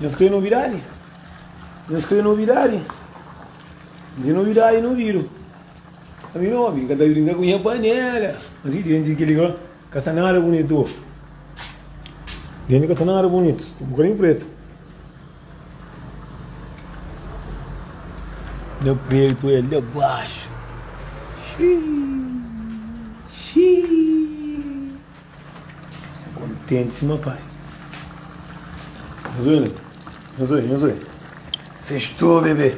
Nhos krê novidadi? Nhos krê novidadi? Di novidadi no vidu. Ami no obi, ka ta brinka ku nha panela. Mas i denti kili ka ka sta nada bonitu. Denti ka sta nada bonitu, sta bukadinhu pretu. Nha pretu é lá baxu. Xiii. Kontenti sima pai. Nhos oi, nhos oi, nhos oi. Sextou, bebê.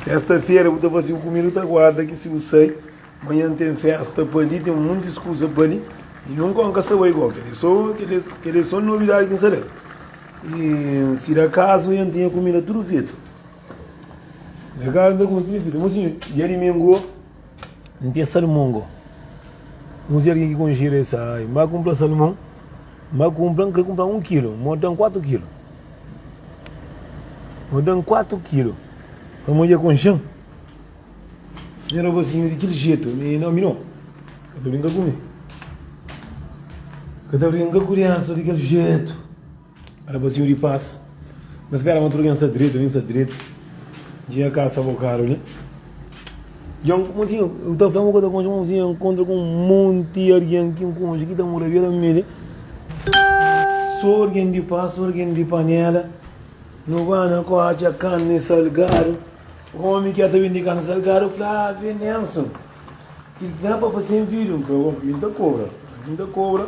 Sexta-feira bu ta fasi o comida, ta guarda que se eu sei, manhã tem festa para ali, tem muitas coisas para ali, e nunca um caçador igual, que ele só, que ele, que ele só novidade que não sabe. E se da caso, eu tinha comida tudo feito. Da caso, eu tinha feito, mas assim, dia de domingo, N ten salmon go. N si algen ki konxi da es ai. N ba kunpra salmon. N ba kunpra, N krê kunpra un kilu. Mo dan kuatu kilu. Mo dan kuatu kilu. Pa mo dja konxan. N era basinhu di kil jetu. Mi no, mi no. Ka ta brinka ku mi. Ka ta brinka ku riansa di kil jetu. Rapazinhu di pas Na spera ma tudu ken sta dretu Vin sta dretu Dja ka sa bo karu li Djon mozinhu Yo ta fla ma ka ta konxe mozinhu Yo kontra ku un monti argen ki konxe Ki ta mora bera mi li So argen di pas So argen di panela No ba na ko atxa kani salgadu Omi ki a ta bindi kani salgadu Flavio Nelson Ki da pa fase un vidu Flavio Nelson Yo ta kobra Yo ta kobra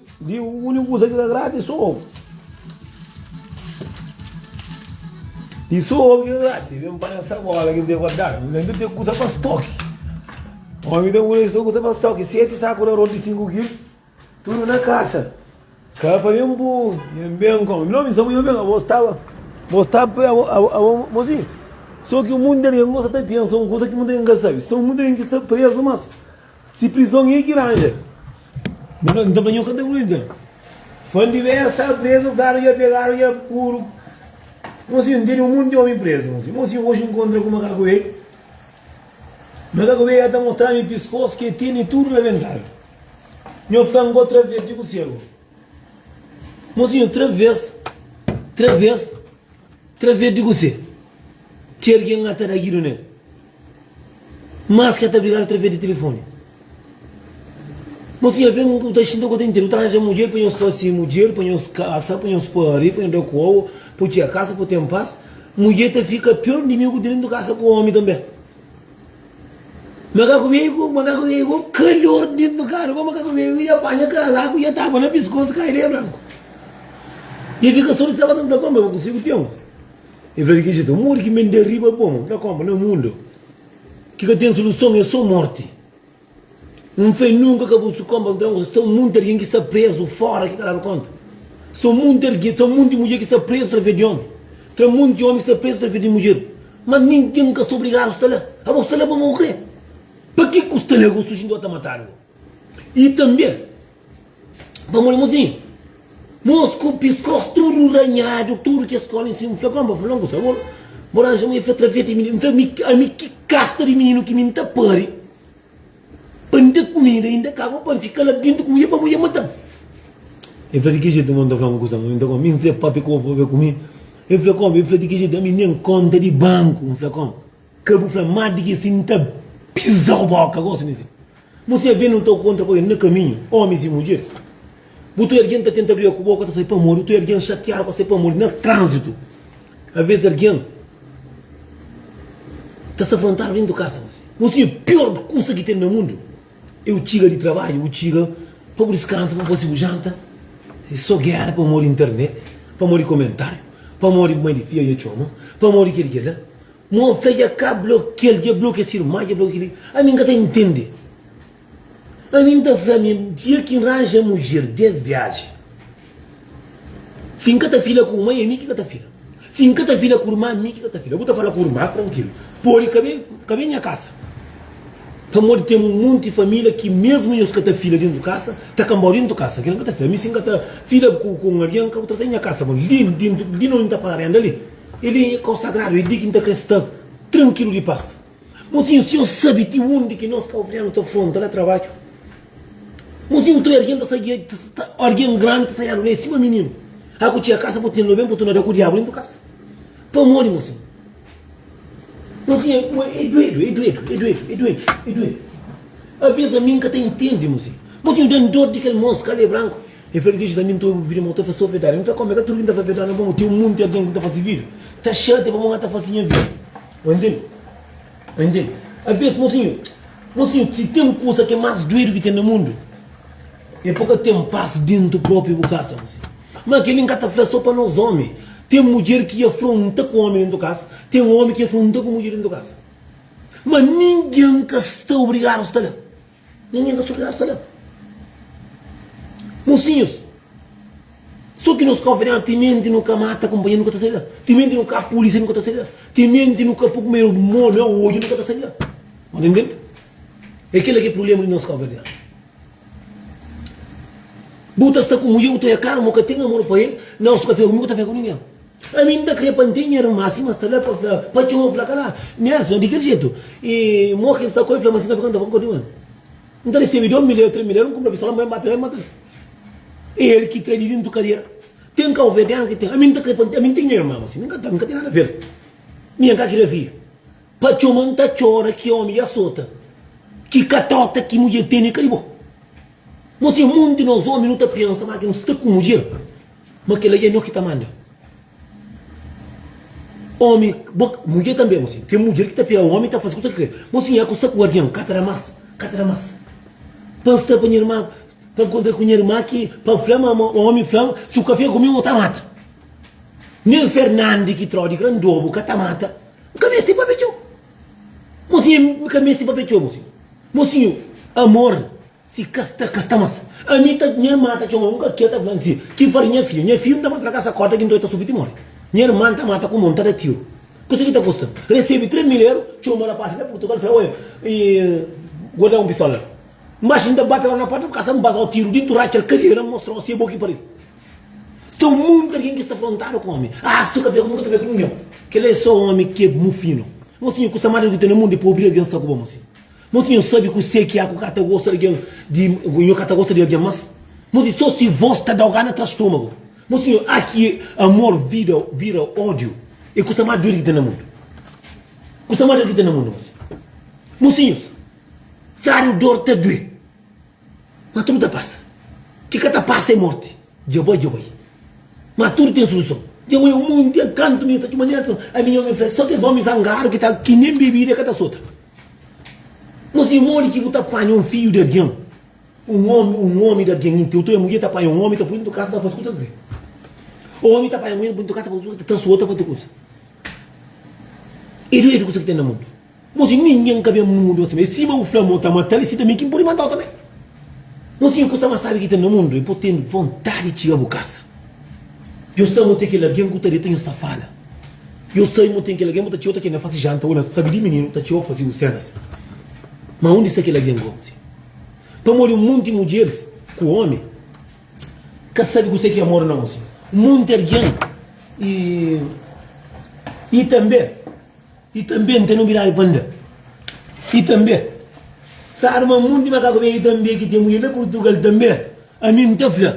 Di úniku kuza ki ta gradi é so obi. I so obi ki ta gradi. Vem pa na sagola ki n ten guardadu. N ten tudu kuza pa stoki. Omi ta muda so kuza pa stoki. Seti saku na rodi di sinku kilu. Tudu na kasa. Ka pa ben bu. Ben ben kon. Nau mi samu ben. Abo staba. Abo staba. Abo mozinhu. So ki munde de nos ta pensa un kuza ki munde de n ka sabi. So munde de n ki sta prezu mas. Si prizon e ki ranja. N ta fla nho ka ta aguenta. Fal di bes sta prezu fladu dja pegadu dja puru Mon si ntende un monti omi prezu mon si Mon si oxi nkontra ku makaku be Makaku be dja ta mostrami piskos ke tene tudu rabentadu Nho fla ngo traves di ku segu Mon si nho traves traves traves di ku se Ki erge ngata da ki dunel. Mas ki el ta brigadu através di telefoni. Mosu, nha ven, bu ta xinta ku bu ta intende. Bu ta ranja mudjer pa nhos fase mudjer, pa nhos kasa, pa nhos pari, pa nhos da koba, pa txia kasa, pa ten pas. Mudjer ta fika pior inimigu di dentu kasa ku omi tanbe. Makaku veigu, makaku veigu, kalor di dentu karu pa makaku veigu, dja panha kazaku, dja tapa na piskosu, kai de branku. E fika sô di tabata, bu ta konbe, bu konsigi ten. É verdade ki dja ta modi ki mende riba bom na konpa na mundo ki ka ten soluson é so morti um fé nunka ka bu su konpa nta un sta munti algen ki sta prezu fora ki ka dadu konta so munti algen ta munti mudjer ki sta prezu tra fé di omi tra munti omi ki sta prezu tra fé di mudjer mas ninken ka sta obrigadu sta la abo sta la pamodi bu kre pa ki ku sta la go su jinti o ta matadu go i tanbe. Ba moli mozinho Mos ku piskos tudu ranhadu Tudu kes kola en sima N fla kon ba fla-m ku sabor Bo ranja-m un efet traveti N fla ami ami ki kasta di mininu ki mi N ta pari Pa N da kumida inda ka bo pa N fika la dintu ku mudjer pa mudjer mata-m El fla di ki jetu mon ta fla-m kusa mon ta N fla pape ku bo pape ku mi El fla kon El fla di ki jetu ami nen konta di banku N fla kon. Ka bu fla má di ki si N ta piza-u bóka gósi mé si bu sta ben N ta kontra ku algen na kaminhu Ómis i mudjeris Bu ta oja algen ta tenta briga ku bo ka ta sai pamodi bu ta oja algen xatiadu ka ta sai pamodi na tránzitu Avês algen ta sta frontadu déntu kasa gósi N sibi piór kusa ki ten na mundu é bu txiga di trabadju bu txiga pa bu diskansa pa bu fase bu janta É sô géra pamodi internet pamodi komentáriu pamodi mai di fia dja txoma pamodi kel-li kel-la Mo fla dja ka blokel dja bloke si irma dja bloke li ami n ka ta intende ami n ta fla ami dia ki n ranja mudjer 10 viaji si n ka ta fila ku mai ami ki ka ta fila si n ka ta fila ku irma ami ki ka ta fila bu ta fala ku irma trankil podi ka be ka be nha kasa pamodi ten un monti familia ki mesmu nhos ka ta fila dentu kasa ta kanbau dentu kasa kila n ka ta fila ami si n ka ta fila ku un algen ka bu trata nha kasa bon li dentu li no n ta paga renda li. El é nha konsagradu, é dignu ta kre-s ta trankilu di pas. Mo Sinhor, si nhos sabe ti undi ki nos ka obrianu ta fronta na trabadju. Mo Sinhor, trai argen ta sadia, argen grandi ta sadia alunei sima mininu. A ku txiga kasa, bo tene-l oben, bo torna da ku diabu nen bu kasa. Pamodi, mo Sinhor. Mo Sinhor, mo é duedu, é duedu, é duedu, é duedu, é duedu. Alvês ami N ka ta intende, mo Sinhor. Mo Sinhor, da-m dor di kel mons kalé branku. El fla, Djezus, ami N ta obi bu vida, ma bu ta fla sô verdadi. El fla, Kómi? Ka tudu ki N ta fla verdadi, ma ten un monti algen ki N ta faze vida ta xatia pamodi N ta fase nha vida. Bo intende? Bo intende? Alvês, mosinhu, mosinhu, si ten kuza ki é más duedu ki ten na mundu, é pa ka ten pas déntu própi bu kasa, mosinhu. Má kel-li N ka ta fla sô pa nos ómi. Ten mudjer ki afla un ta ku ómi déntu kasa, ten ómi ki afla un ta ku mudjer déntu kasa. Má ningen ka sta obrigadu sta la. Ninguém ka stupiar sa la. Mosinhos, so ki nos ka oferenha timenti nu ka mata kunpanheru nu ka ta sai la, timenti nu ka polisia nu ka ta sai la, timenti nu ka po ku meru mo na odju nu ka ta sai la. Bo ta ntende? E kila ki prublema di nos ka oferenha. Bu ta sta ku mudjer bu ta oja klaru ma bu ka ten amor pa el, na osi ka fia ku mi bu ka ta fia ku ninguém. Ami n ta kre pa n ten nha irma si ma sta la pa fla pa txoma fla ka la. Nelson, Di kel jetu? I mo ki n sta ku el fla ma si ka fika n ta ba nkontri ku el. N ta resebe dos miléru, tres miléru, n kunpra pistola ma el ba pega i mata-l. É el ki tra di dentu kadiera. Ten kau fé, ten anu ki ten. Ami n ta kre pa n ten, ami n ten nha irma ma si mi n ka ten, mi ka ten nada fel. Mi nha n ka kre fidju. Pa txoma n ta txora ki omi dja sota. Ki katota ki mudjer tene ka di bo. Mo si é mon di nos omi nu ta pensa ma ki nu sta ku mudjer. Ma kela ya nho ki ta manda. Omi, bo, mudjer tanbe, mo sin, ten mudjer ki ta pega omi ta fase ku ta kre. Mo sin, ya ku sta ku argen, ka ta da mas, ka ta da mas. Pa N sta pa nha irma, pa N kontra ku nha irma ki, pa N fla ma, ma omi fla-m, si bu ka fika ku mi, N ta mata. Nen Fernandi ki tra odi grandobu ka ta mata. N ka meste pape txeu. Mo sin, N ka meste pape txeu, mo sin. Mo sin, amor. Si ka sta, ka sta mas. Ami ta, nha irman ta txoma un kakia ta fla-m si, ki fari nha fidju, nha fidju n ta manda-l na kasa korta ki ntoi ta sufi ti mori. Nha irman ta mata ku mo, n ta da tiru. Kusa ki ta kusta-m. Resebi tres mil eru, txoma rapasi na Purtugal fla, oia, i bo da-m un pistola. N baxa, n ta bate ora na porta di kasa, n baza-u tiru di ntu, ratxa-l kadiera, n mostra-u si e bo ki pari-l. Sta monti algen ki sta frontadu ku omi. Ah, su ka fia ku mi, ka ta fia ku ningen. Kel-la e so omi ki e mufinu. Mosinhu, kusa más di bu ki ten na mundu e pa obi algen sta ku bo, mosinhu. Moti nho sabi kuse ki é ku ka ta gosta di algen di nho ka ta gosta di algen mas moti so si vos ta dau gana tra stomago moti nho ah ki amor vida vira odio e kusa ma dudu ki ten na mundu kusa ma dudu ki ten na mundu mas mosinhos fériu dor ta due ma tudu ta passa ki ka ta passa é morti dja bai dja bai ma tudu ten soluson dja bai o mundo inteiro kantu mi ta txu manera ami nho mi fla so kes omi zangadu ki ta ki nen bebida ka ta sota. Nho si modi ki bu ta panha un fidju di algen, un omi, un omi di algen inti, otu mudjer ta panha un omi ta pui dintu kasa ta fasi ku ta kri. Omi ta panha mudjer ta pui dintu kasa ta fasi ku ta kri, ta sota fasi kusa. E duedu kusa ki ten na mundu. Nho si ningen ka ben mundu pa sima el. Sima bu fla ma bu ta mata-l, si tanbe ki N pode mata-u tanbe. Nu sibi kusa más sábi ki ten na mundu é pa bu ten vontadi di txiga bu kasa. Djobe sta mô ten kel algen ku ta deta nhos ta fala. Djobe sta mô ten kel algen bu ta txiga-u ta kende fase janta ô na sabi di mininu ta txiga-u fase-u sénas. Má undi sta kel algen gósi? Pamodi un monti mudjeris ku ómi ka sabi kuzê ki é amor na gósi. Un monti algen i tanbê. I tanbe N ten nobidadi pa N da I tanbe Sa rma mun di makaku ben I tanbe ki ten mulher na Purtugal tanbe ami N ta fla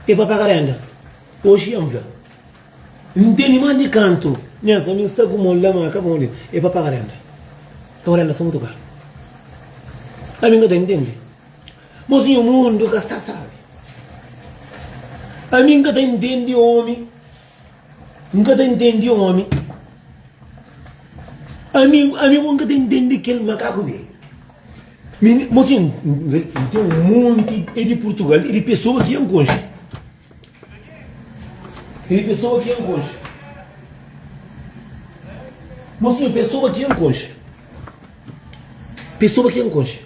e pa paga renda Oxi N fla N teni más di kantu mês ami N sta ku mol la ma ka bon li e pa paga renda Ton renda sta mutu karu Ami N ka ta intendi Bos nho mundu ka sta stabi Ami N ka ta intendi omi N ka ta intendi omi Amigu, amigu, N ka ta intendi kel makaku bê Mi ne, mo si, N ten un monti e di Purtugal e di pesoa ki N konxe E di pesoa ki N konxe Mo si, pesoa ki N konxe Pesoa ki N konxe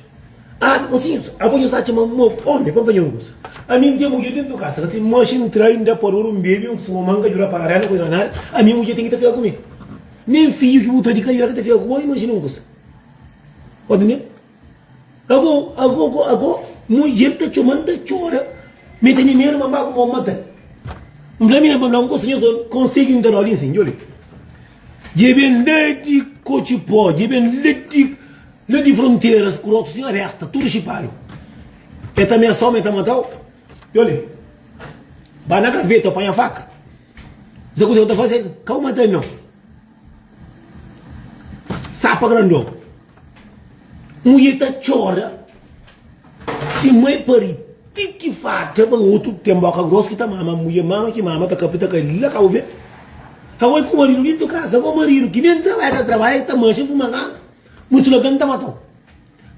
Abi pasinsa, abo nhos atxa ma mau omi pa N fadja un kusa? Ami N ten mudjer dentu kasa, kasi N manxa, N trai, N da pa duru, N bebi, N fuma, N ka djuda paga renda, kuza nada, ami mudjer ten ki ta fika ku mi. Nen fidju ki bu tra di kariera ka ta fika ku bo, imajina un kusa. Sta ntendi? Ago, ago, ago, ago, mudjer ta txoma, N ta txora, mi ta mi medu ma N ba ku bo, N mata-l. N fla mi, nen pa N fla un kusa, nhos omi konsigi nta nodi nsin, djobe. Djobe N ladi kotxi po, djobe N ladi. Na di fronteras ku rotu sin aresta tudu xipadu e ta mesa omi e ta matau yoli ba na gaveta panha faka za kuze ku ta fase kau mata nau sapa grandon mudje ta txora si mai pari ti ki farta ba otu ten boka gros ki ta mama mudje mama ki mama ta kapta ka la kau ve kau e ku maridu dintu kasa bo maridu ki nen trabalha ta trabalha e ta manxa fuma kasa. Bo dise logo, N ta mata-u.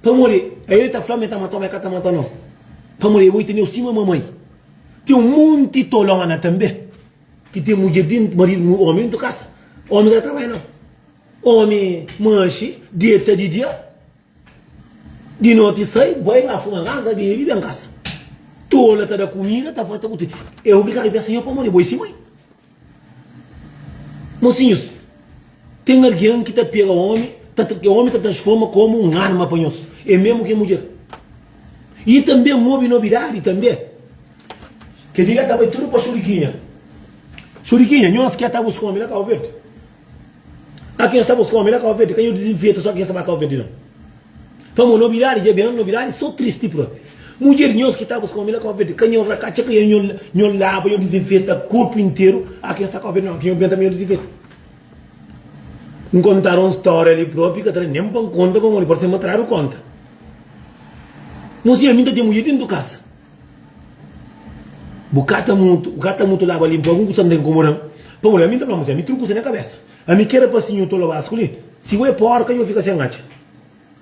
Pamodi el ta fla ma el ta mata-u, má el ka ta mata no. Pamodi bo e tene-u sima mamai. Ten un monti tolóna tanbê ki ten mudjer dentru, maridu, ómi dentru kasa. Ómi ka ta trabadja nau. Ómi manxe, deta di dia, di noti sai, bai ba fuma ansa, bebe, ben kasa. Tola ta da kumida, ta fla, ta bu tudu. El obrigadu p'es sinhor pamodi bo e si mai. Mosinhus, ten algen ki ta pega omi, ta tra, omi ta transforma komu un arma pa nhos, e mesmu ki e mudjer. E tanbe N obi nobidadi tanbe, kel di la ta bai tudu pa Xurikinha. Xurikinha, nhos ki atá buska omi na Kabu Verdi? Aki nhos ta buska omi na Kau Verdi, ka nhos dizinfeta so ki nhos ta ba Kau Verdi nau. Pamo nobidadi dja ben, nobidadi so tristi propi. Mudjer nhos ki ta buska omi na Kau Verdi, ka nhos la katxa ka nhos laba, nhos dizinfeta korpu interu. Aki nhos ta Kau Verdi nau, aki nhos ben tanbe nhos dizinfeta. N kontadu un storia li propi, ka ta da nen pa N konta pamodi parse ma tradu konta. Nho si ami ta ten mudjer dentu kasa. Bu ka ta mutu, bu ka ta mutu laba linpu algun kusa ta ta inkomoda-m. Pamodi ami N ta fla ma sen, ami txeu kusa na kabésa. Ami ki éra pasinhu tolo básiku li, si bo é pórka, dja bu fika sen atxa.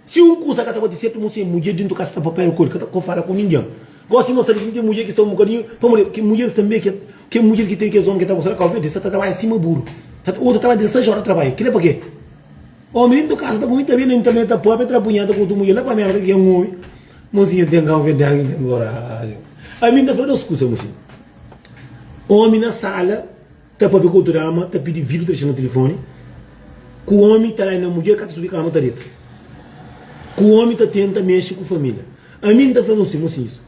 Si un kusa ka ta bate sertu, mon sen mudjer dentu kasa ta papia-l ku el, ka ta ka fala ku ningen. Gósi mostra-l ki mi ten mudjer ki sta un bukadinhu, pamodi ki mudjeris tanbê ki kel mudjer ki ten kes ómi ki el ta gosta na Kábu-Verdi, es sa ta trabadja sima buru. Ta ta otu ta trabadja dezesés óra di trabadju. Kel-li é pakê? Ómi dentu kasa ta kumenta bê na internet, ta papia, tra punheta ku otu mudjer la pa Mérka ki é un ómi. Mozinha ten raiva de alguém que mora alheu. Ami nta fla dos kusa, mozinha. Omi na sala ta papia ku otu dama, ta pidi vidu, ta dexa na tilifoni. Ku omi ta laina mudjer, ka ta subi kama ta deta. Ku omi ta tenta mexe ku familia. Ami nta fla nus sin, mozinhus,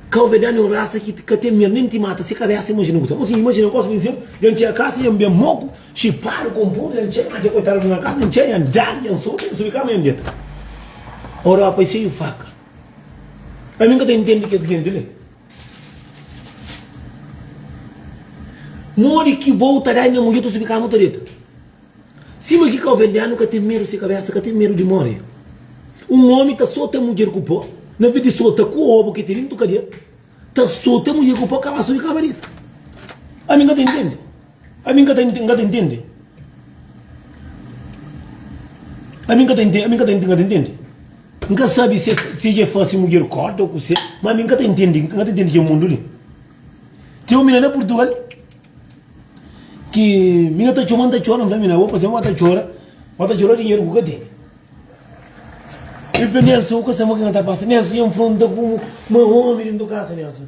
Kauvedan é un rasa ki ka ten mer, nen ti mata se kabesa. Imajina kusa, mozinha. Imajina gosi di sen, dja n'txia kasa, dja n'ben moku. Xipadu ku un pudu dja N txeu atxa koitadu di nha kaza N txeu nha N dadu dja N sufri N subi kama dja N deta Europa e xeiu faka Ami N ka ta intendi kes genti li Modi ki bo ta da nha mudjer ta subi kama u ta deta Sima ki kaoverdianu ka ten medu si kabesa ka ten medu di mori Un omi ta sota mudjer ku po na ves di sota ku obu ki tene N tu ka deta Ta sota mudjer ku po kaba subi kama deta Ami N ka ta intendi. Ami n ka ta n ka ta intende Ami n ka ta n ka ta n ka ta intende N ka sabe si si dja fase mudjer korda o kuse ma ami n ka ta intende n ka ta intende kel mundu li Ten un mina na Purtugal ki mina ta txoma n ta txora n fla mina bo pase ma ba ta txora ba ta txora dinheru ku ka tene El fla Nélson u ka sabe ma ki na ta pasa Nélson dja n fronta ku ma omi dentro kasa Nélson.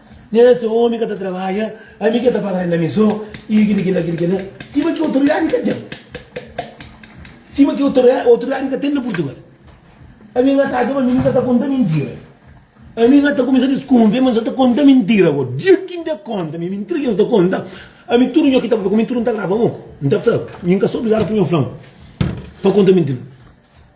Nhas se omi ka ta trabadja ami ke ta paga renda mi so i kel i kel la kel i kel la sima ki otoridadi ka ten sima ki otoridadi ka ten na purtugal ami nha ta atxa ma ami mi sa ta konta mintira ami nha ta kumesa diskunfia ma no sa ta konta mintira bo dia ki nda konta mi mi ntrigi nhos ta konta ami tudu nho ki ta papia ku mi tudu nta grava un oku nta fla bo mi nka so obligadu pur nho fla un pa konta mintira.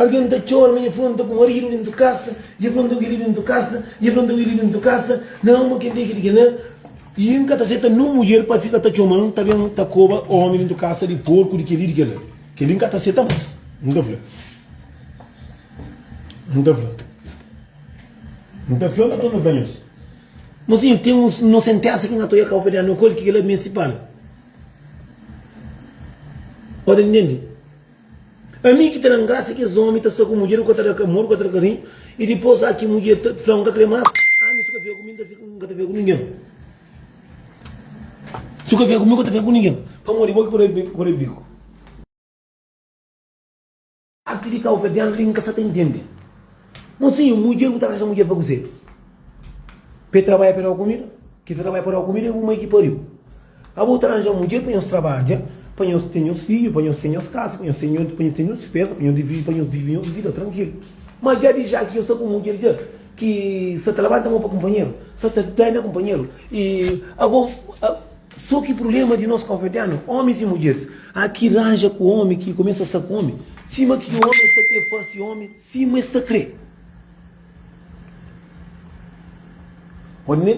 Algen ta txora ma e fla, N ta pô-m aridu déntu kasa. I e fla, N ta uili déntu kasa. I e fla, N ta uili déntu kasa. Na alma kel-li ki di kel-la, i N ka ta seta nun mudjer pa fika ta txoma-m, ta ben ta koba ómi déntu kasa di porku di kel-li i di kel-la. Kel-li N ka ta seta más, N ta fla. N ta fla. N ta fla, N ka ta torna fla nhos. Má sinhor, ten un no senténsa ki N atua i e ka ofendia no kóde ki kel-la meste pâ-la. Ode, N tende. Ami ki ta da-m grasa ki es omi ta sta ku mudjer ku ka ta da-l amor, ku ka ta da-l karinhu, i dipôs a ki mudjer ta fla, N ka krê más, ami si bu ka fika ku mi, N ka ta fika ku ningen. Si bu ka fika ku mi, N ka ta fika ku ningen, pamodi bo ki pode pode biku. Párti di Cabo Verdeano li N ka sta ta intende. Mosinhu, un mudjer bu ta arranja mudjer pa kuzê? Pa e trabadja pa e daba kumida? Ki ta trabadja pa daba kumida é bu mai ki pariu. Abo ta arranja mudjer pa nhos trabadja, pa nhos ten nhos fidju, pa nhos ten nhos kasa, pa nhos ten nhos dispesa, pa nhos vive, pa nhos vive nhos vida trankilu. Má dja di já ki nhos sta ku un mudjer dja ki sa ta labanta mon pa kunpanheru, sa ta dana kunpanheru. I abo, sô ki prubléma di nos kabuverdianu, ómis i mudjeris, a ki ranja ku ómi, ki kumesa sta ku ómi, sima ki ómi sta krê fase ómi Sima es ta kre. Pode ne?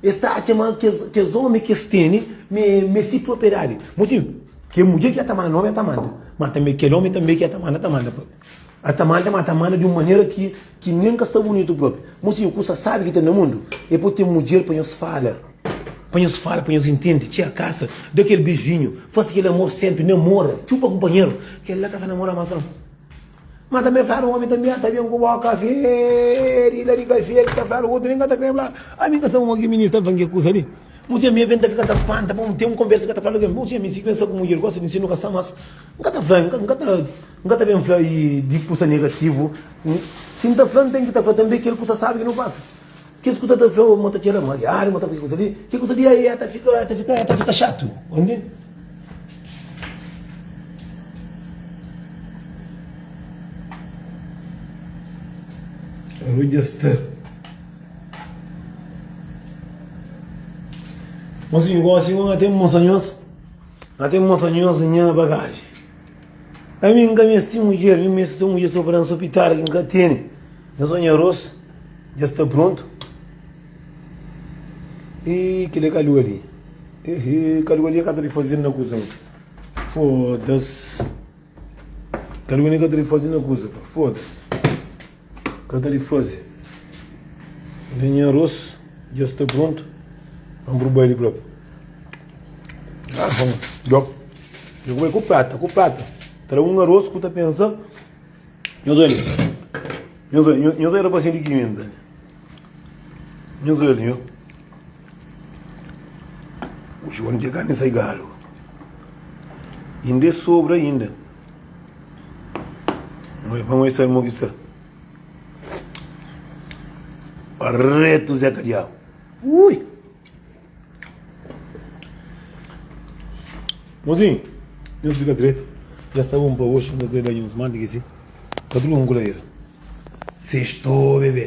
Es ta atxa ma kes ómi ki es tene ma é si propriedadi. Mo si kel mudjer ki dja ta manda ómi, el ta manda. Má tanbê kel ómi tanbê ki el ta manda, el ta manda própi. El ta manda, má ta manda di un manera ki nen ka sta bunitu própi. Mo si un kusa sábi ki ten na mundu? El pode ten mudjer pa nhos fala, pa nhos fala, pa nhos intende. Txia kasa, da kel beijinhu, faze kel amor sénpri, namora, txupa kunpanheru. Kel-la ka sta namora más nau. Má tanbê el fladu, Un ómi ta miâ, ta ben ku bó kafé, di la di kafé ki ta fladu, otu li N ka ta krê fla-l. Ami N ka sta ku mon ki minista, el fla-m ke kusa li? Mon txia, mi avê N ta fika ta spanta pa un ténpu konversa ki ka ta fladu kel. Mon txia, mi si pensa ku mudjer gosta di mi, si nu kasa más. N ka ta fla, N ka ta, N ka ta ben fla di kusa negativu. Si N ta fla, N ten ki ta fla tanbê kel kusa sábi ki nu pasa. Kes ku ta ta fla mo ta txera mariadu, mo ta fla kes kusa li, kes kusa li e ta fika, e ta fika, e ta fika xatu. Undi? Aro dja sta. Mon sinhu, gósi ngo na ten mostra nhos, na ten mostra nhos nha bagaji. Ami n ka meste mudjer, mi meste so mudjer so pa da-m so pitara ki n ka tene. Nhos ô nha arôs dja sta prontu. Ih, kel-li é kaliu ali. Ehê, kaliu ali é ka ta di faze na kuza ê. Fôdas. Kaliu ali é ka ta di faze na kuza pa. Fôdas. Ka ta di faze. Nhos nha arôs dja sta prontu. Vamos pro baile prop. Ah, vamos. Djop. Dja ku bai ku prata, ku prata. Tra un arôs ku ta pensa. Nhos olha. Nhos olha, nhos, nhos era paciente que ainda. Nhos olha, nhos. O João de carne sai galo. Ainda é sobra ainda. Mas vamos ver se ele que está. Reto Zé Cadial. Ui! Mozinho, nhos fika dretu. Dja sta bon pa oxi, nhos bai banhu, nhos manda ki si pa durmi un kulaera. Sextou bebe.